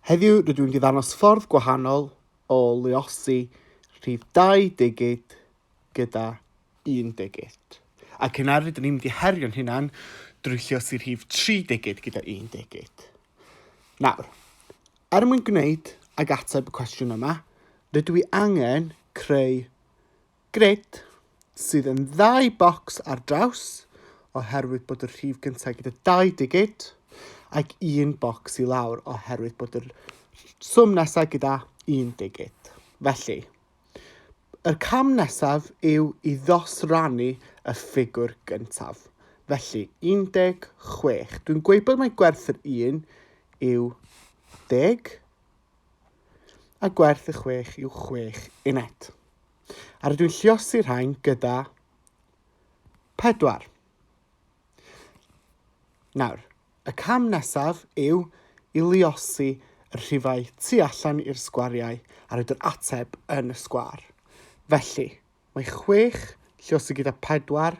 Heddiw rydw i'n diddangos ffordd gwahanol o luosi rhif dau digit gyda un digit. Ac yna rydyn ni'n mynd i herio'n hunan drwy lluosi rhif tri digit gyda un digit. Nawr, er mwyn gwneud ag ateb y cwestiwn yma, rydw i angen creu Gred, sydd yn ddau bocs ar draws, oherwydd bod y rhif gyntaf gyda dau digid, ac un bocs i lawr, oherwydd bod y swm nesaf gyda un digid. Felly, yr cam nesaf yw i ddosrannu y ffigwr gyntaf. Felly, 16. Dwi'n gweud bod mae gwerth yr 1 yw 10, a gwerth y 6 yw 6 uned. A rydw i'n lliosi rhain gyda pedwar. Nawr, y cam nesaf yw i liosi y rhifau tu allan i'r sgwariau a roed yr ateb yn y sgwar. Felly, mae chwech lliosi gyda pedwar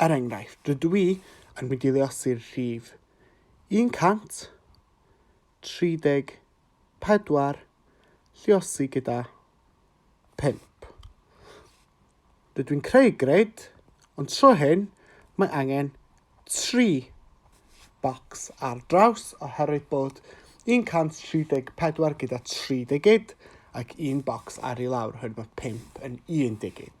Er enghraifft, rydw i yn mynd i leosi'r rhif 134, lleosi gyda 5. Rydw i'n creu grid, ond tro hyn mae angen 3 bocs ar draws oherwydd bod 134 gyda 3 digid ac un bocs ar i lawr oherwydd bod 5 yn un digid.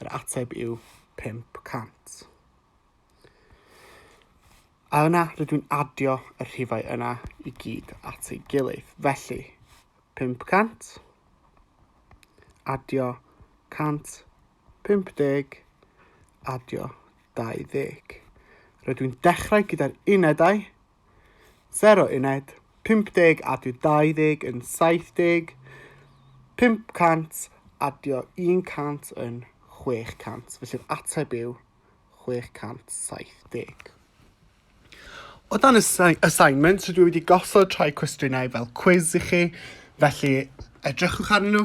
Yr ateb yw 500. A yna rydw i'n adio y rhifau yna i gyd at ei gilydd. Felly, 500, adio 150, adio 20. Rydw i'n dechrau gyda'r unedau 0 uned, 50 adio 20 yn 70, 500 adio 100 yn 600, felly'r ateb yw 670. O dan y assignment, so dwi wedi gosod rhai cwestiynau fel quiz i chi, felly edrychwch arnyn nhw,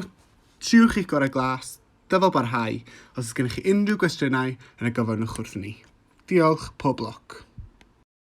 triwch eich gorau glas, dyfal barhau, os ydych gennych chi unrhyw gwestiynau yn y gofynnwch wrth ni. Diolch, pob lwc.